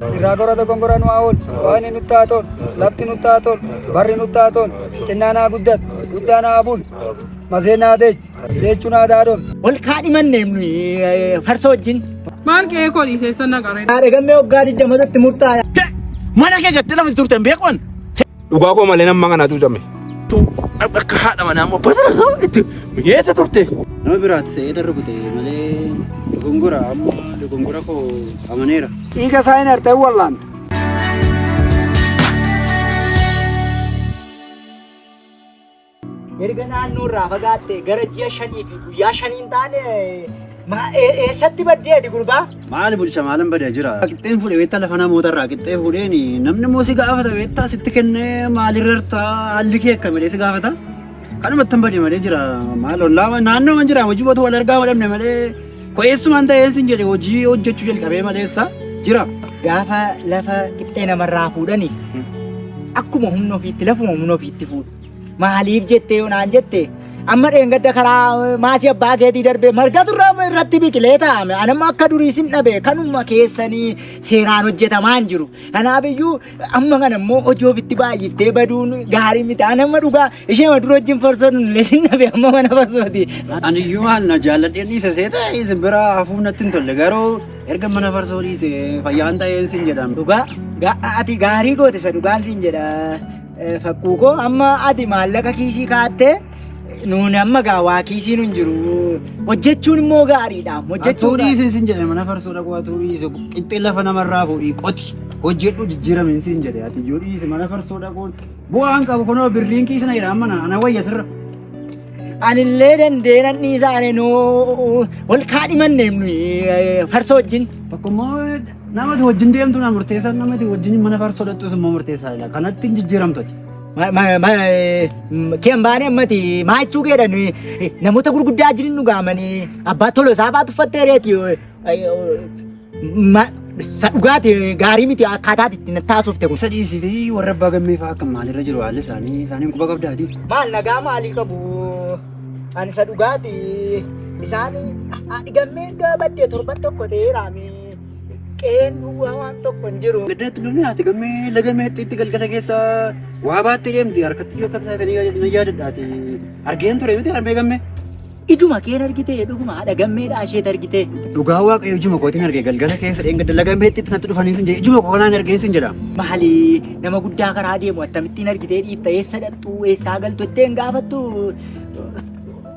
Irraa gora dogongora nu haa oolu. Waaqni nutti haa tolu. Lafti nutti haa tolu. Barri nutti haa tolu. Xinnaan haa guddatu. Guddaan haa bulu. Maseen haa deechu. Deechuun haa daadon. Wal kaadhimanne farsa wajjin. Maal qe'ee koo dhiiseessa naqaree. Haadha gammee waggaa 20tti murtaa'e. Mana kee gattee lafa turte hin beekuun. Dhugaa koo malee nama kanatu jame. Akka haadha manaa immoo batara ta'u itti mi'eessa turte. Nama biraatti se'ee darbute malee dogongora amma dogongora koo amaneera. Dhiiga isaa hin artee wallaanta. Erga naannoo irraa fagaatte gara ji'a shanii fi guyyaa shaniin taane maa ee- eessatti baddee ati gurbaa? Maali bulcha maalan bada jira. Qixxeen fuudhe beektaa lafa namoota irraa qixxee fuudheen namni immoo si gaafata beektaa sitti kennee maalirra irtaa haalli kee akka malee si gaafata. Kanumatti hin bade malee jira maal ollaa naannoo man jira hojii wal argaa wal dhabne malee ko'eessumaan ta'een sin jedhe hojii hojjechuu jalqabee maleessa jira. Gaafa lafa qixxee namarraa fuudhani akkuma humna ofiitti lafuma humna ofiitti fuudhu. Maaliif jettee yoo naan jette amma dheengadda karaa maasii abbaa keetii darbee margatu irra- irratti biqilee taa'ame. Anamma akka durii sin dhabe kanuma keessanii seeraan hojjetamaa hin jiru. Kanaaf iyyuu amma kana immoo hojii ofitti baay'iftee baduun gaarii miti. Anamma dhugaa ishee dura wajjin farsoo nullee sin dhabe amma mana farsooti. Ani iyyuu maal na jaalladhee dhiise seeta isin bira hafuun natti hin tolle garuu erga mana farsoo dhiise fayyaan ta'een sin jedhama. Dhugaa gaa- ati gaarii goote isa dhugaan siin jedha. Fakkuu koo amma ati maallaqa kiisii kaattee nuun amma gaa waa kiisii nun jiru hojjechuun immoo gaariidha Atuu hojjechuun dhiisin sin jedhe mana farsoo dhaquu atuu dhiise qixxee lafa namarraa fuudhii qoti hojjedhu jijjiiramin sin jedhe ati iyyuu dhiise mana farsoo dhaquun bu'aan qabu kunoo birriin kiisna jira amma na- ana wayya sirra. anillee dandeenan dhiisaane nuu wal kaadhimanneem nuyi farsoo wajjin Tokko immoo Nama itti wajjin deemtu na murteessa, nama itti wajjin mana faarsu sodattus immoo murteessaa jira. Kanatti hin jijjiiramtu ati. Ma- ma- ma- eh, Keen baanee ammati maachuu keedhan eh, namoota gurguddaa jirin dhugaamanii abbaa tola isaa baatu uffattee reeti eh, eh, ma- sa dhugaati eh, gaarii miti akkaataa itti na taasofte kun. Isa dhiisitee warra abbaa gammee fa'aa akka maalirra jiru haalli isaanii isaaniin quba qabdaati. Maal nagaa maalii qabu? Ani isa dhugaati. Isaan dhigammee gabaddee torban tokko ta'eeraami. Qe'een duwwaa waan tokko hin jiru. Gaddaatti namni haati gammee laga meexxii itti galgala keessa waa baattee deemti harkatti yoo akka tasaatanii na yaadadhaati. Argeen ture miti harmee gammee. Ijuma keen argitee dhuguma haadha gammeedha asheet argitee. Dhugaa waaqayyo ijuma kootiin argee galgala keessa dheengadda laga meexxiitti natti dhufanii sin jedhe ijuma koo kanaan argeen sin jedha. Maali nama guddaa karaa deemu akkamittiin argitee dhiifta eessa dhaqxu eessaa galtu ittiin gaafattu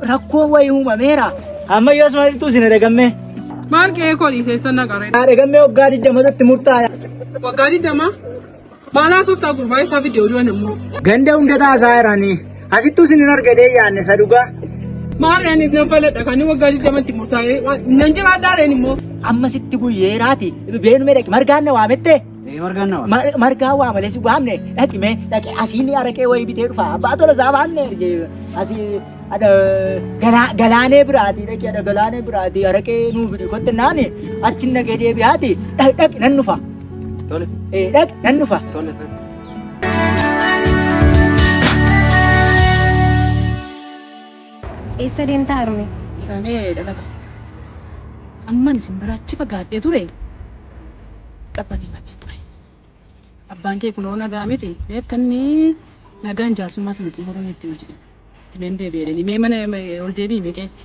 Rakkoon wayii uumameera. Amma yoos maaltu isin dhagammee? Maal qe'ee koo dhiisee sana qaree? Dhagammee waggaa 20tti murtaa'e. Waggaa 20? Maal haasoftaa gurbaa isaa fidee oduu anammoo? Ganda hunda taasaa jiranii. Asittuu isin hin argadee yaanne isa dhugaa. Maal reenis nan faladha kan waggaa 20tti murtaa'ee nan jiraadhaa reen immoo. Amma sitti guyyeeraati. Beenumee dhaqi margaan na waamettee? Ee margaan na waame. Mar- margaa waa malee si waamne dhaqi mee dhaqi asii ni araqee wayii bitee dhufa abbaa tola isaa waamne erge asii ada galaa galaanee biraati dhaqi ada galaanee biraati araqee nuu bidi kotte naani achi nagee deebi'aati dhaqi dhaqi nan dhufa Tole ee dhaqi nan dhufa. tole tole. Eessa deemta Harmee? Egaa mee dhala koo. Amman isin bira achi fagaadhee ture qabbaneeffadheen ture. Abbaan kee kunoo nagaa miti mee akka inni nagaan jaarsummaa sana xumuruu nutti himi jedheen. Itti meen deebi'ee jedhanii mee mana ol deebi'i mee qeetti.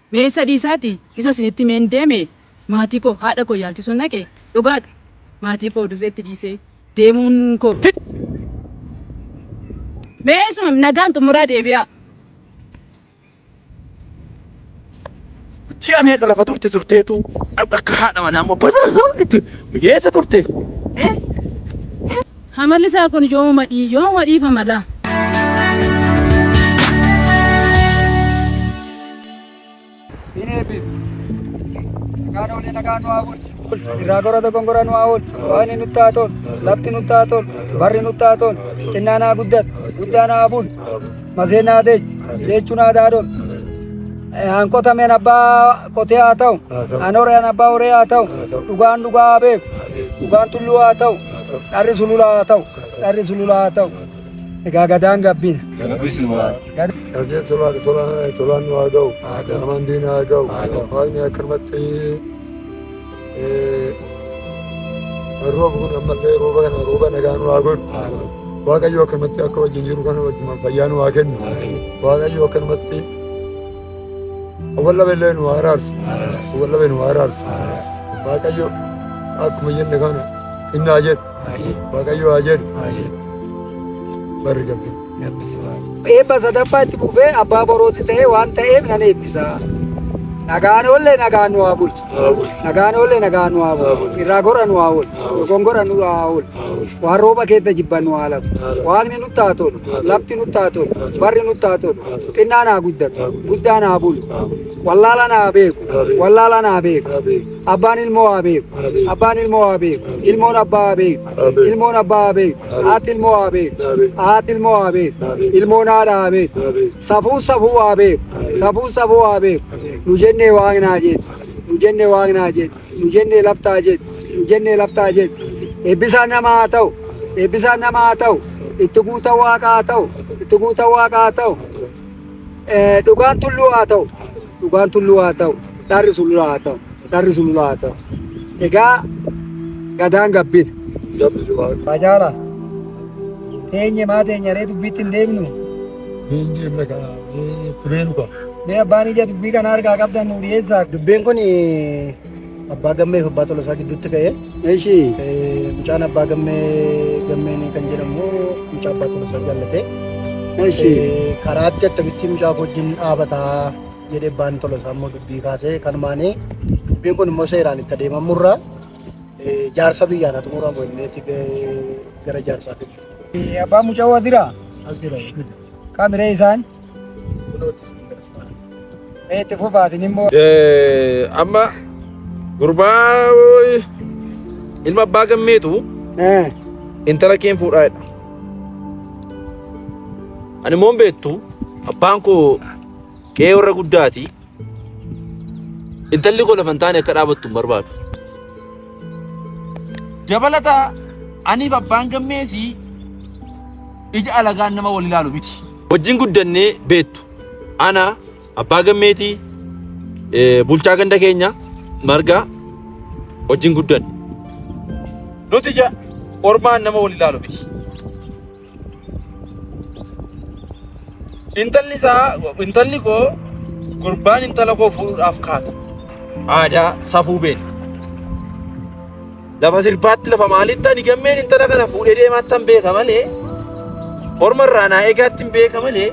Mee isa dhiisaati isa isinitti himeen deeme maatii koo haadha koo yaalchisuun dhaqe dhugaadha maatii koo dirreetti dhiisee deemuun koo Mee isuma nagaan xumuraa deebi'aa. Ji'a meeqa lafa turte turteetu akka haadha manaa immoo basaasoo itti mijeessa turte. Hamalli isaa kun yooma dhii yooma dhiifama laa. Hin eebbif. Nagaan oolee nagaan nu haa bulchu. Irraa gora dogongora nu haa oolchu. Waaqni nutti haa tolu. Lafti nutti haa tolu. Barri nutti haa tolu. Xinnaan haa guddatu. Guddaan haa bulu. Maseen haa deechu. Deechuun haa daadolu. Hanqotameen abbaa Qotee haa ta'u, an hore an abbaa horee haa ta'u, dhugaan dhugaa haa beeku, dhugaan tulluu haa ta'u, dharri sululaa haa ta'u, dharri sululaa haa ta'u. Egaa gadaan gabbina. Hojii tolaan tolaan tolaan nu haa ga'u. Namaan diina haa ga'u. Waaqni akkanumatti rooba kun ammallee rooba kana rooba nagaa nu haa godhu. Waaqayyo akkanumatti akka wajjin jiru kana wajjin fayyaa nu haa kennu. Waaqayyo akkanumatti Walla belleen waa araarsu. Walla belleen waa araarsu. Waaqayyo akkuma jenne kana inni haa jedhu. Waaqayyo haa jedhu. Barri gabbi. Eebba sadaffaa itti fufee abbaa borootti ta'ee waan ta'eef nan eebbisa. Nagaan oollee nagaan nu haa bulchu. Nagaan oolle nagaa nu haa bulu. Irraa gorra nu haa oolu. Dogongora nu haa oolu. Waan rooba keessa jibban nu haa lagu. Waaqni nutti haa tolu. Lafti nutti haa tolu. Barri nutti haa tolu. Xinnaan haa guddatu. Guddaan haa bulu. Wallaalaan haa beeku. Wallaalaan haa beeku. Abbaan ilmoo haa beeku. Abbaan ilmoo haa beeku. Ilmoon abbaa haa beeku. Ilmoon abbaa haa beeku. Haati ilmoo haa beeku. Haati ilmoo haa beeku. Ilmoon haadha haa beeku. Safuun safuu waa beeku. Safuun safuu waa beeku. Nu jennee waaqni haa jedhu. Nu jennee waaqni haa jedhu. Nu jennee lafti haa jedhu. Nu jennee lafti haa jedhu. Eebbisaan namaa haa ta'u. Eebbisaan namaa haa ta'u. Itti guutan waaqa haa ta'u. Itti guutan waaqa haa ta'u. Dhugaan tulluu haa ta'u. Dhugaan tulluu haa ta'u, dharri sulula haa ta'u, dharri sulula haa ta'u. Egaa gadaan gabbina. Bajaala, teenye maa teenya ree dubbiitti hin deebinu? Mee abbaan ija dubbii kana argaa qabdan nu dhiyeessaa. Dubbiin kun Abbaa Gammee fi Abbaa Tolasaa gidduutti ka'e. Eshi. Mucaan Abbaa Gammee Gammeen kan jedhamu mucaa Abbaa Tolasaa jaallatee. Eshi. Karaatti akkamittiin mucaa wajjin dhaabataa jedhee Abbaan Tolasaa immoo dubbii kaasee kanumaanii dubbiin kun immoo seeraan itti adeemamurraa jaarsa biyyaan haa xumuramu innitti gara jaarsaatti. Abbaan mucaa waadira. As jira. Kaamiree isaan. Mee itti fufaatiin immoo. Eh, amma gurbaa wooyi, ilma abbaa gammeetu Eh, intala keen fuudhaa jedha. Ani immoo hin beektu abbaan koo qe'ee warra guddaati. Intalli koo lafa hin taane akka dhaabattu hin barbaadu. Dabalata aniif abbaan gammeesii ija alagaan nama wal ilaalu miti. Wajjin guddannee beektu. Ana abbaa gammeetii eh, bulchaa ganda keenya margaa wajjin guddanne. Nuti ija ormaan nama wal ilaalu miti. Intalli isaa intalli koo gurbaan intala koo fuudhuudhaaf kaata. Aadaa safuu beela. Lafa sirbaatti lafa maalitti ani gammeen intala kana fuudhee deemaatti hin beeka malee horma irraa naa eegaatti hin beeka malee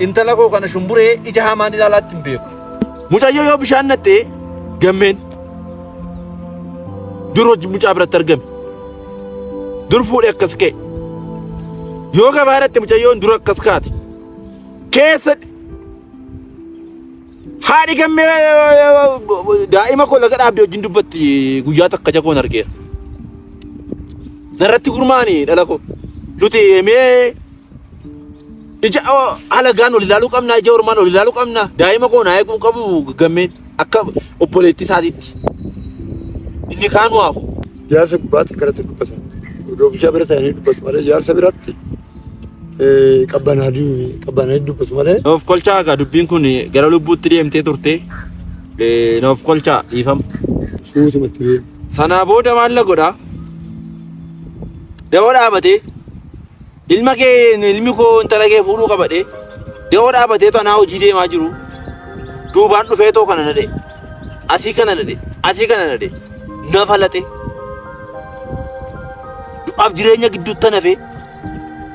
intala koo kana shumburee ija hamaan ilaalaatti hin beeku. Mucayyoo yoo bishaan nattee gammeen dur hojii mucaa biratti argame. dur fuudhe akkas ka'e yoo gabaadhatti mucayyoon dur akkas kaate keessa haadhi gammee daa'ima koo laga dhaabdee wajjin dubbatti guyyaa takka jagoon argeera narratti gurmaani dhala koo nuti mee Ija halagaan ol ilaaluu qabnaa, ija ormaan ol ilaaluu qabnaa. Daa'ima koo naa eeguu qabu gammeen akka obboleetti isaatiitti. Inni kaan nu hafu. Jaarsa gubbaatti akkanatti dubbatan. Doobishaa bira ta'anii dubbatu malee jaarsa biratti qabbanaa dubbatu malee. Noof kolchaa egaa dubbiin kun gara lubbuutti deemtee turte. Noof kolchaa dhiifama. Suutumatti beeku. Sanaa booda maal na godhaa? Dawoo dhaabatee. Ilma kee ilmi koo intala kee fuudhuu qaba dhee da'oo dhaabateetu anaa hojii deemaa jiru duubaan dhufeetoo kana nadhe asii kana nadhe asii kana nadhe nafa laxe du'aaf jireenya gidduutti nafe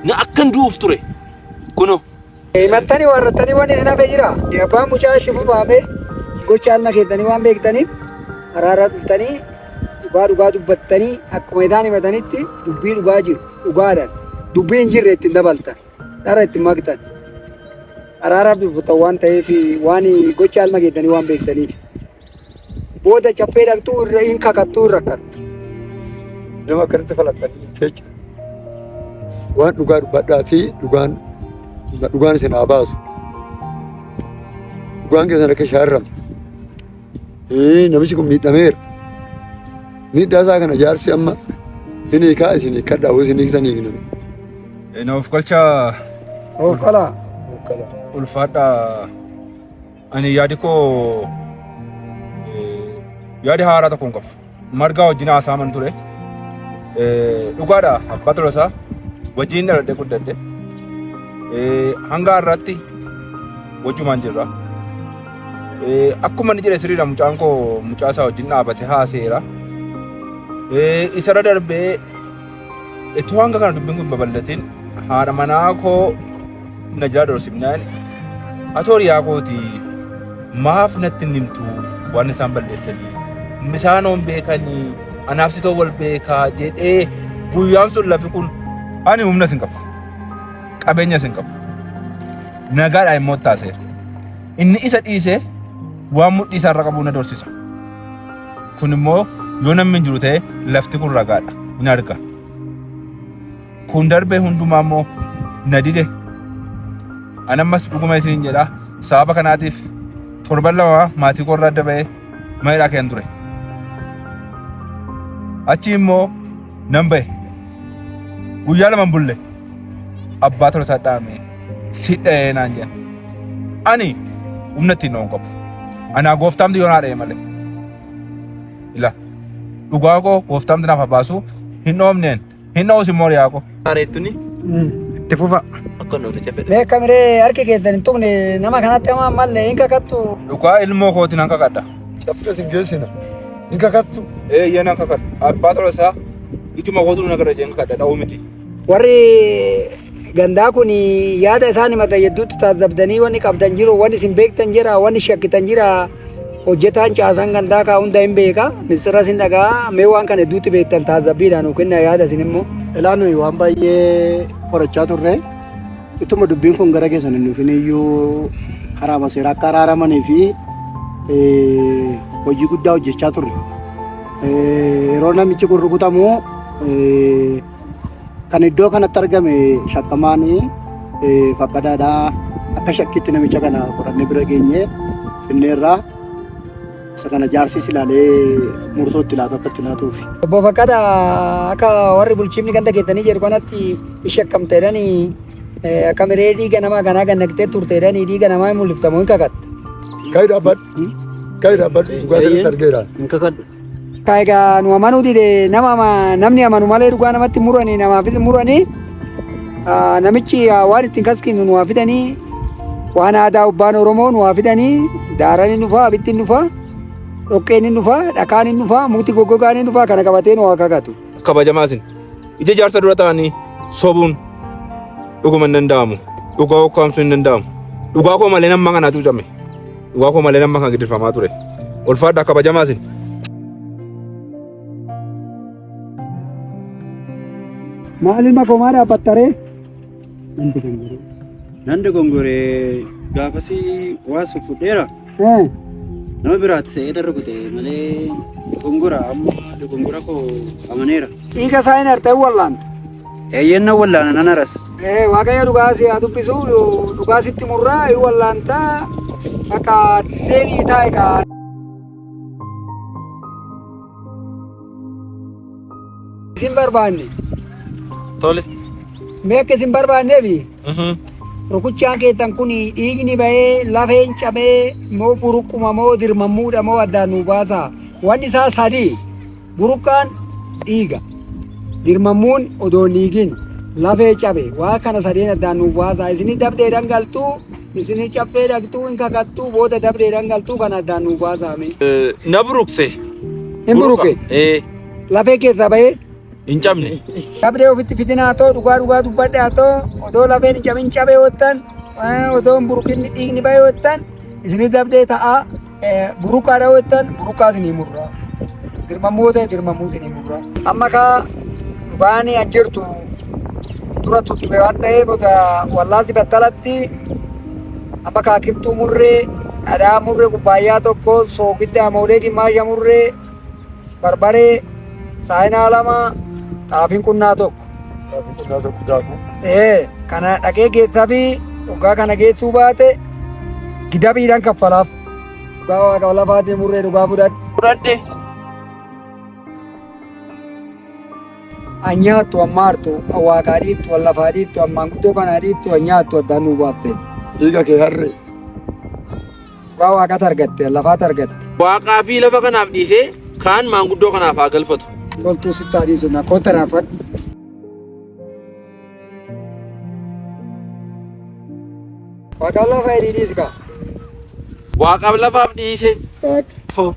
na akkan du'uuf ture kuno. Himattanii warrattanii wanni isin hafe jira. Abbaan mucaa shifu baafee gocha alma keessanii waan beektaniif araara dhuftanii dhugaa dhugaa dubbattanii akkuma isaan himatanitti dubbii dhugaa jiru dhugaadhaan dubbii hin jirre ittiin dabaltan dhara ittiin maktan araaraaf dubbattan waan ta'eef waan gocha alma keessanii waan beektaniif. Booda caffee dhaqxuu irra hin kakattuu hin rakkatta. Nama akkanatti falaxanii hin teecha. Waan dhugaa dubbadhaa fi dhugaan dhugaan isin haa baasu. Dhugaan keessan akka shaarramu. Ee, Namichi kun miidhameera. Miidhaa isaa kana jaarsi amma hin hiikaa isin hiikkadhaa hoo isin hiiktanii hin hiikan. Naaf galchaa Of qalaa. ulfaadhaa Ani yaadi koo eh, yaada haaraa tokko hin qabu. Margaa wajjin haasaaman ture. Eh, Dhugaadha abbaa tolasaa wajjin dhaladhee guddadhe. Eh, Hanga har'aatti wajjumaan jirra. Eh, Akkuma inni jedhe sirriidha mucaan koo mucaa isaa wajjin dhaabate haaseera. Eh, Isarra darbee Ittoo hanga kana dubbiin kun babal'atiin haadha manaa koo na jala dhoorsimnaan atoo riyaa kooti maaf natti hin himtu waan isaan balleessanii misaan hoon beekanii anaaf sitoo wal beekaa jedhee guyyaan sun lafi kun ani humna sin qabu qabeenya sin qabu nagaadhaa immoo taaseera inni isa dhiisee waan mudhii isaarra qabu na doorsisa. Kun immoo yoo namni hin jiru ta'e lafti kun ragaadha hin arga. Kun darbee hundumaa immoo na dide. Ani ammas dhuguma isiniin jedha sababa kanaatiif torban lama maatii koo irraa adda ba'ee mana hidhaa keessa ture. Achi immoo Nan ba'e. Guyyaa lama hin bulle. Abbaa tola isaa dhaame. Si dha'ee naan jedhan. Ani humna ittiin dha'uun qabu. Anaa gooftaamti yoo naa dha'e malee. Ila dhugaa koo gooftaamti naaf haa baasu hin dhoofneen hin dha'us immoo riyaa koo. Areettuni Itti fufa. akka namni cafedha. Mee kamiree harki keessan hin tuqne nama kanatti hamaa malle hin kakattu. Dhugaa ilmoo kootiin nan kakadha. Caffee sin geessina. Hin kakattu. Eeyyee nan kakadha. Abbaa tola isaa ituma kootu na gara jeen kakadha dha'uu miti. Warri gandaa kun yaada isaan himatan hedduutti taasisabdanii wanni qabdan jiru, wanni isin beektan jira, wanni shakkitan jira. Hojjetaan caasaan gandaa kaa hunda hin beeka. Misiras hin dhaga'a. Mee waan kana hedduutti beektan taasisabbiidhaan yookiin yaada isin immoo. Ilaa nuyi waan baay'ee qorachaa turre. Ituma dubbiin kun gara keessan hin dhufin iyyuu karaa maseera akka araaramanii fi hojii guddaa hojjechaa turre. Yeroo namichi kun rukutamu kan iddoo kanatti argame shakkamaan fakkadaadha. Akka shakkiitti namicha kana qorannee bira geenye finneerraa. Isa kana jaarsis ilaalee murtoo itti laatu akka itti laatuuf. Obbo Fakkata akka warri bulchiifni ganda keessanii jedhu kanatti ishee akkam ta'edhani akka miree dhiiga namaa kanaa kan naqxee turteedhani dhiiga namaa hin mul'iftamu hin kakatta. Kai dapat, kai dapat juga dari tergerak. Hin kakadhu. Ka egaa nu amanuu dide nama ama- namni amanu malee dhugaa namatti muranii namaafis hin muranii Ah, namichi ah, waan ittiin kaskinu nu haa fidanii waan aadaa ubbaan Oromoo nu haa fidanii daaran hin dhufaa abittiin hin dhufaa dhoqqeen hin dhufaa dhakaan hin dhufaa mukti goggogaan hin dhufaa kana qabatee nu haa kakatu. kabajamaa isin ija jaarsa dura ta'anii sobuun dhuguma hin danda'amu dhugaa ukkaamsuu hin danda'amu dhugaa koo malee namma kanaa cuucame Dhugaa koo malee nama kan gidirfamaa ture. Ulfaadhaa kabajamaa isin. Maal ilma koo maal dhaabbattaree? Nan dogongoree. Nan dogongoree gaafasii waas fuffudheera. Nama biraatti se'ee darra kutee malee dogongora amma dogongora koo amaneera. Dhiiga isaa hin artee wallaanta. Eeyyeen nan wallaana nan arasa. Ee, Waaqayyo dhugaa si haa dubbisu, dhugaa sitti murraa, hin wallaanta, bakka deebi'i taa'i kaa. Isin barbaanne, Tole. mee akka isin barbaanneefi Mhm. rukuchaan keessan kun dhiigni bahee lafeen cabee moo buruquma moo dirmammuudha moo addaan nu baasa. Wanni isaa sadii. Burqaan dhiiga. Dirmammuun odoo hin dhiigin lafee cabe. Waa kana sadeen addaan nuuf baasaa. Isinii dabdeedhaan galtuu, isinii caffee dhaqxuu, hin kakattuu, booda dabdeedhaan galtuu kana addaan nuuf baasaa mee. Na buruqse. Hin buruqe? Ee. Lafee keessaa bahee? Hin cabne. Dabdee ofitti fidinaa too dhugaa dhugaa dubbadhaa too odoo lafeen hin cabin cabe hoottan odoo hin buruqin dhiigni bahe hoottan isinii dabdee ta'aa. Buruqaa dha'uu jettan buruqaa isinii murraa. Dirmamuu ta'e dirmamuu isinii murraa. Amma kaa dubaanii an jirtu dura tutture waan ta'eef oda wallaansi battalatti amma kaa kiftuu murree dhadhaa murree kubbaayyaa tokko soogidda amoolee gimmaasha murree barbaree saayinaa lama xaafiin qunnaa tokko. Qonnaa tokko daakuu. Ee, kana dhaqee geessaa fi dhugaa kana geessuu baate gidabiidhaan kaffalaaf. Dhugaa waaqa lafaatii murree dhugaa fudhadhe. Fudhadhe. Anyaattu ammaa hartu waaqaa dhiiftu wal lafaa dhiiftu ammaan guddoo kanaa dhiiftu anyaattu addaan nuu baafte. Dhiiga kee harree. Dhugaa waaqaatu argatte, lafaatu argatte. Waaqaa fi lafa kanaaf dhiisee kaan maanguddoo kanaaf haa galfatu. Toltuu sitti haa dhiisu, na kootta raafadhu. Waaqaaf lafa hidhii dhiisi kaa. Waaqaaf lafaaf dhiise. Too.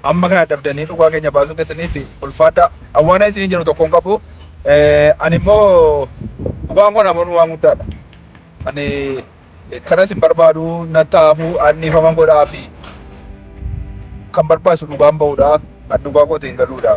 Amma kana dadhabdanii dhugaa keenya baasuu keessaniif ulfaadhaa. An waan isiniin jedhu tokko hin qabu. Ani immoo dhugaan kun amanu waan guddaadha. Ani kanas hin barbaadu nan ta'aafu an dhiifama godhaa fi kan barbaachisu dhugaan ba'uudha. An dhugaa kootiin galuudha.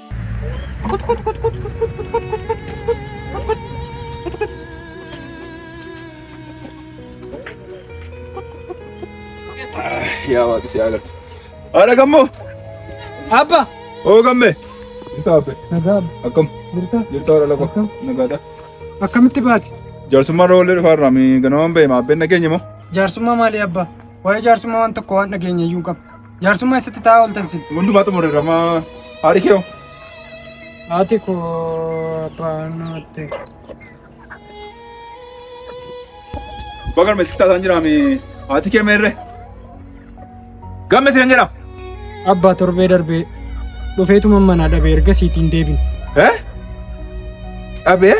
Yaa waaqi si agartu. Haadha gammoo. Abba. Oo gamme. Jirtaa abbe. Nagaa. Akkam. Jirtaa. Jirtaa haadha lako. Akkam. Nagaadha. Akkamitti baate? Jaarsummaa roollee dhufaa irraa mi ganamaan ba'e maabbeen nageenya moo? Jaarsummaa maalii abbaa? Waa'ee jaarsummaa waan tokko waan dhageenye iyyuu hin qabdu. Jaarsummaa eessatti taa'aa ooltan sin? Hundumaa xumurreerra maa haadhi kee hoo? Haati koo abbaan nutti. Abbaa galma eessatti taasaan jiraame haati kee meerre? Gamme siin jedhama. Abbaa torbee darbee dhufeetuma manaa dhabee erga siitiin deebin. Eh? Dhabee?